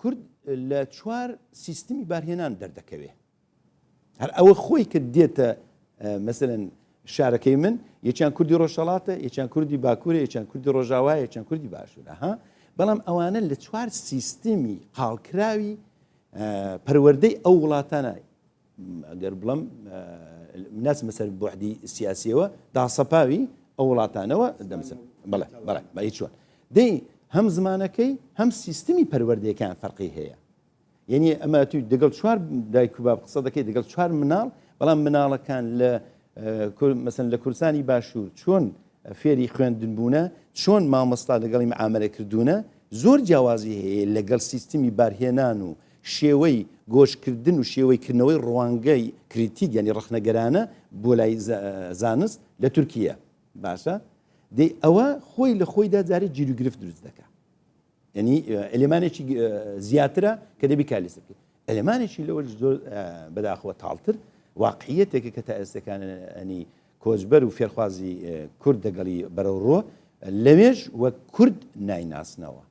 کورد لە چوار سیستمی بارهێنان دەردەکەوێ هەر ئەوە خۆی کە دێتە مەسەن شارەکەی من یەکیان کوردی ڕۆژهڵاتە یەکیان کوردی باکوورە یەکیان کوردی ڕۆژاوای یەکیان کوردی باشوورە ها بەڵام ئەوانە لە چوار سیستمی قاڵکراوی پەروەەردەی ئەو وڵاتانە گەر بڵێم ناچمە سەر بۆحدی سیاسیەوە داسەپاوی ئەو وڵاتانەوە دەمسن بڵێ بەڵێ بە هیچ چۆن دەی هەم زمانەکەی هەم سیستمی پەروەردەکان فەرقی هەیە یعنی ئەمە توی دەگەڵ چوار دایک و باب قسە دەکەی دەگەڵ چوار مناڵ بەڵام مناڵەکان لە مەسن لە کورسانی باشوور چۆن فێری خوێندن بوونە چۆن مامۆستا لەگەڵی ئامرە کردوونە زۆر جیاوازی هەیە لەگەڵ سیستمی بارهێنان و شێوەی گۆشکردن و شێوەی کردنەوەی ڕوانگەی کریتیک یانی ڕەخنەگەرانە بۆ لای زانست لە تورکییە باشە دەی ئەوە خۆی لە خۆیدا جارێ جیروگرفت دروست دەکە یعنی ئەلێمانێکی زیاترە کە دەبی کالیس بکە ئەلێمانێکی لەوە زۆر بەداخەوە تاڵتر واقعیەتێکە کە تا ئێستەکاننی کۆچبەر و فێرخوازی کورد دەگەڵی بەرەوڕۆ لەوێش وە کورد نایناسنەوە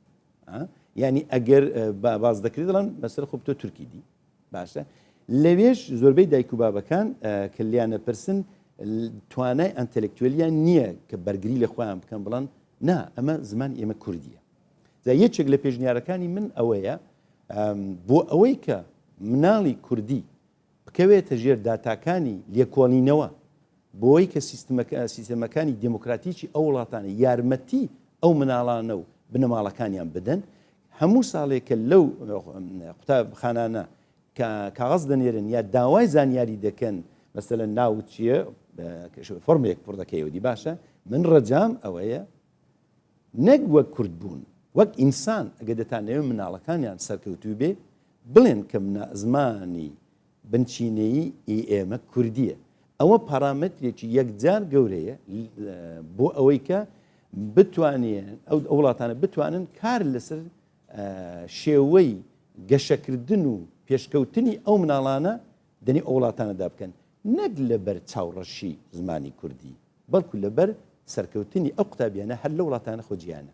ها یعنی ئەگەر با باز دەکرێت دەڵێن بەسەر خۆ تۆ تورکی دی باشە لەوێش زۆربەی دایک و بابەکان کە لیانە پرسن توانای ئەتەلکتولیان نییە کە بەرگری لە خۆیان بکەن بڵند نا ئەمە زمان ئێمە کوردیە جا یەکێک لە پێشنیارەکانی من ئەوەیە بۆ ئەوەی کە مناڵی کوردی بکەوێتە ژێر داتاکانی لێکۆڵینەوە بۆی کە سیستەمەکانی دێمۆکراتیکی ئەو وڵاتانە یارمەتی ئەو مناڵانە و بنەماڵەکانیان بدەن هەموو ساڵێک کە لەو قوتابخانانە کە کاغەز دەنێرن یا داوای زانیاری دەکەن مەسەلە ناوت چییە فۆرمێک پڕ دەکەیەوەدی باشە من ڕەجام ئەوەیە نەک وەک کورد بوون وەک ئینسان ئەگەر دەتانەوێ مناڵەکانیان سەرکەوتوو بێ بڵێن کە منا زمانی بنچینەیی ی ئێمە کوردیە ئەوە پارامەترێکی یەکجار گەورەیە بۆ ئەوەی کە بتوانێن ئەو وڵاتانە بتوانن کار لەسەر شێوەی گەشەکردن و پێشکەوتنی ئەو مناڵانە دەنێ ئەو وڵاتانەدا بکەن نەک لەبەر چاوڕەشی زمانی کوردی بەڵکو لەبەر سەرکەوتنی ئەو قوتابیانە هەر لەو وڵاتانە خۆ جیانە